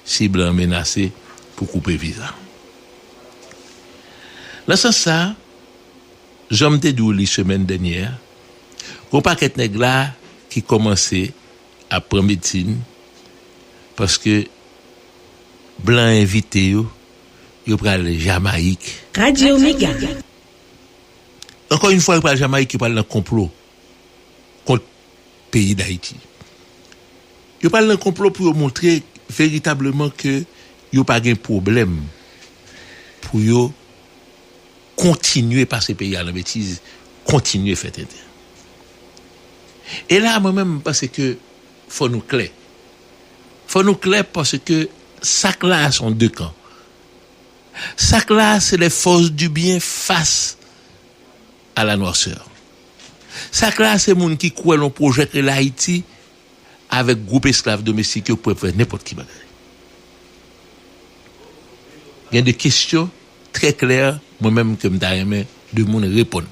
Si blan an menase pou koupe viza. Nan sans sa, janm te di w li semèn dènyè a, gon pakèt nèg la ki kòmanse ap pran medsin paske blan envite yo, yo pral Jamayik. Radio Mega. Ankò yn fwa yo pral Jamayik yo pral nan konplo kont peyi Dayiti. Yo pral nan konplo pou yo montre veritableman ke yo pa gen pwoblèm pou yo kontinye pase peyi a nan betiz, kontinye fè tenten. E la a mwen menm m panse ke fò nou klè. Fò nou klè paske sa k la a se yon de kan. Sa k la a se les forces du bien face. A la noirceur. Sak la a se moun ki kwè lon pwojè k rele Ayiti avèk gwoup esklav domestik yo k prè fè nenpòt ki bagay. Gen de kesyon trè klè mwen menm ke m ta renmen de moun reponn.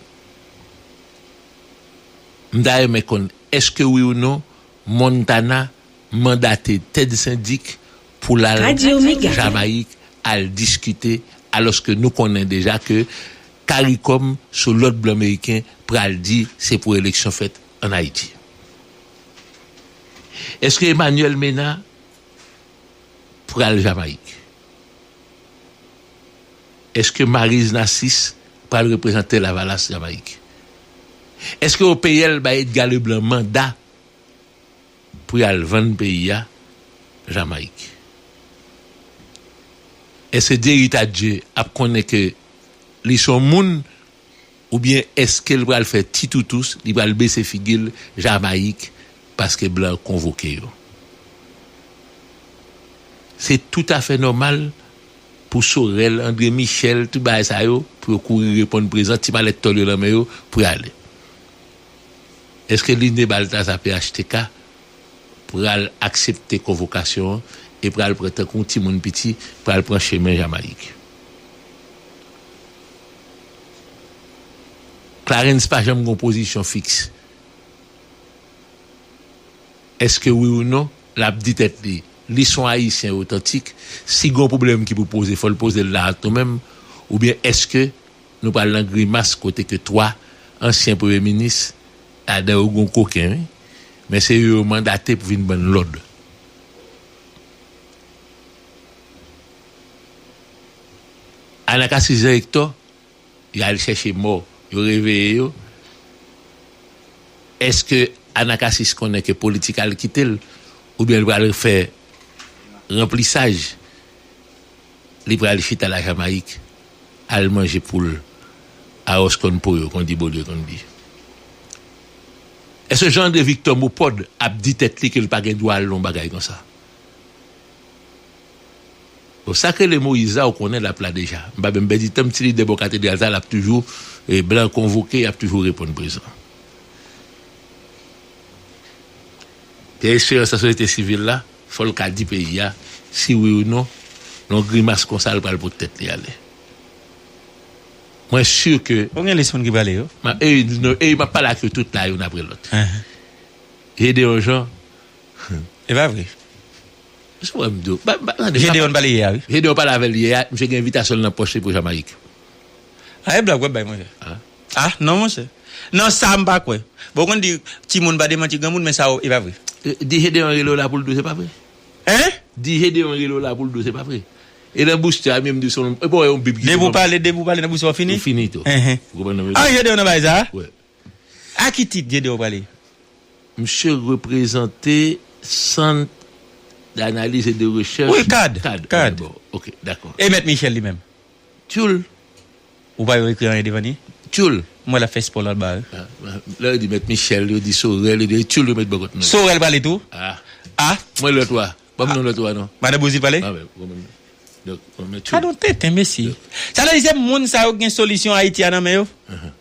M ta renmen konn èske wi ou non Montana mandate Ted Sendic pou l al Jamayik al diskite alòske nou konnen deja ke Karikom sou lòd blan meriken pral di se pou eleksyon fèt an Ayiti. Eske Emmanuel Mena pral Jamayik? Eske Maryse Narcisse pral reprezante Lavalas Jamayik? Eske OPL bay Edgar Leblanc manda Pou y al vann peyi a Jamayik. Èske Dieritadje ap konnen ke li s on moun oubyen èske l pral fè ti toutous, li pral bese figi l Jamayik paske blan konvoke yo? Se toutafè nòmal pou Sorel, Andre Michel, tout bagay sa yo, pou yo kouri reponn prezan, ti malèt tòl yo nan men yo, pou y ale. Eske Line Baltasar phtk pral aksepte konvokasyon an e pral pran tankou yon ti moun piti pral pran chemen Jamayik? Clarens pa janm gen yon pozisyon fiks. Eske wi ou non, l ap di tèt li, li s on Ayisyen otantik, si gen yon pwoblèm ki pou poze fò l poze l la ak nou menm, oubyen eske Nou pral nan grimas kote ke 3 ansyen premye minis, ladan yo gon koken wi, men se yo yo mandate pou vin bann lòd. Anakasi Jean Hector, yo al chèche mò, yo reveye yo, eske Anakasis konnen ke politik al kite l, oubyen l pral fè ranplisaj? Li pral chita la Jamayik al manje poul Aros konn po yo kondi Beaulieu kondi Eske Jean André Victor Mopod ap di tèt li kel pa gen dwa al nan yon bagay konsa Bon sak rele Moïse la ou konnen lap la deja m pa menm pèdi tanm ti lidè bò katedral sa lap toujou blan konvoke yap toujou reponn prezan Pierre Esperance nan sosyete sivil la. Fòl ka di peyi a si wi ou non lon grimas konsa li pral pot tèt li ale mwen sur ke. Bon gen lis moun ki prale yo. Map ey nou ey map pale ak yo tout la youn apre lòt Gedeon Jean humm. Epa vre. Sa wè m diw ba ba tande. Gedeon pale yè a wi. Gedeon pale avèl yè a misye gen envitasyon l nan pòch li pou Jamayik. A e blag wap bay monchè. Ah non monchè. Non sa m pa kwè. Bon ou konn di timoun pa demanti granmoun men sa ou e pa vre. Di Gedeon rele w la poul di w se pa vre. Hein? Di Gedeon rele w la poul di w se pa vre. E nan bouch Tcham yo m di w se yon e pa w wè yon bib ki di w. Depi ou pale depi ou pale nan bouch Tcham ou fini? Ou fini tou. Enhen. Ou konprann sa m vle di? Ah Gedeon nan bagay sa a? Wi. A ki tit Gedeon prale? Msye reprezante sant d'analyse et de recherche. Wi cad. Cad. Cad. Ok dakò. E mèt Michel li menm? Tyoul! Ou pa yon ekri anyen devan li? Tyoul! M wè l ap fè espò l anba a wi. Lè yo di mèt Michèl, yo di Sorèl, yo di e tyoul yo met bò kot mèt. Sorèl pale tou? A! A! M wè lòt wa. Ban m non lòt wa non. Madan Bozil pale? A wè. Ban m non. Donk, m wè tyoul. Gadon tenten mesye! Sa vle di se moun sa yo k gen solisyon Ayiti a nan men yo?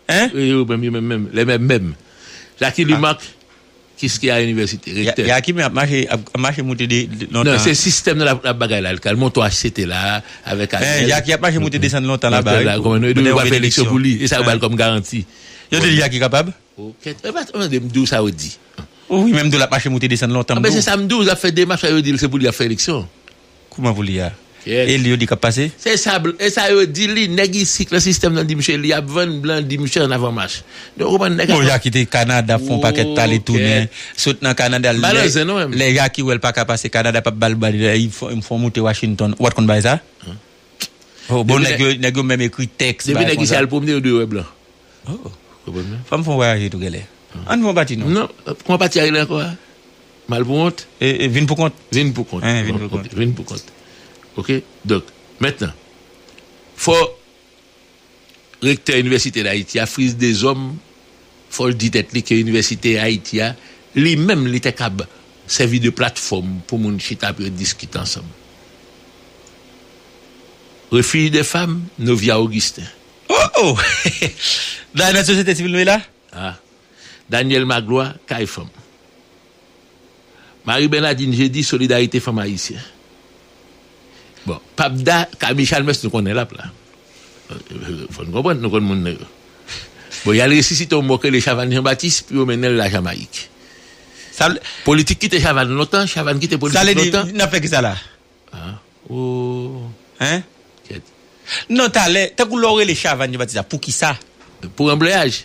Hein? Yo menm, yo menm menm. Les mêmes mêmes. Laky Lumac, Kiskeya Université, Recteur. Ya Yakime ap mache ap mache moute de lontan. Nan se sistèm nan lap bagay la kal monte yon HCT la avèk Ariel. Men Yaki ap mache moute desann lontan la ba wi pou konnen yo pral fè eleksyon pou li e sa yo bal kòm garanti. Yo te di Yaki kapab? O kèt epa tande m diw sa yo di. Wi men m diw lap mache moute desann lontan m diw. Anben se sa m diw lap fè demach la yo dil se pou li ap fè eleksyon. Kouman pou li a? Yes. E li yo di kap pase? Se sa bl e sa yo di li, nèg isik nan sistèm nan di misye li ap vann blan di misye an avanmach. Nou konprann nèg Bon ap Jaki te Kanada fon pakèt pale Woo tounen, kèt. sot nan Kanada Ba lè nan zen nou menm. lè Jaki wèl paka pase Kanada pap bal bal lè li fon fon moute Washington ou pat konn bagay sa? Oh bon Depi nèg nèg yo nèg yo menm ekri tèks depi bagay nèg isye konsa. al pwomne yo dwe wè blan. Oh Ou konprann? Fòm fon vwayaje tou gèlè. Ann fon pati non. Non, kouman pati a rele ankò a? Mal pou wont? E vin pou kont? Vin pou kont. Hein, vin pou kont. Ok, vin pou kont. Ok, donk, mentnan, fò Rektè Inivèsite Dayiti a, Fritz Deshommes, fò l di tèt li ke Inivèsite Ayiti a, li menm li te kab sèvi de platfòm pou moun chita pou yo diskite ansanm. Refuge des femmes, Novia Augustin. Oh! Oh! Dayè nan Sosyete Sivil nou ye la? Ah! Daniel Magloire, Kay Fanm. Marie Bernadine Jeudy solidarite fanm ayisyen bon papda Camille Chalmers nou konnen lap la fò nou konprann nou konn moun nan yo bon yal resisite yon mò k rele Chavanne Jean Baptiste pou yo mennenl la Jamayik politik kite Chavanne lontan Chavanne kite politik lontan. Sa vle di nap fè kisa la? Ooh kèt. Non talè tankou lè w rele Chavanne Jean Baptiste la poukisa? Pou ranbleyaj.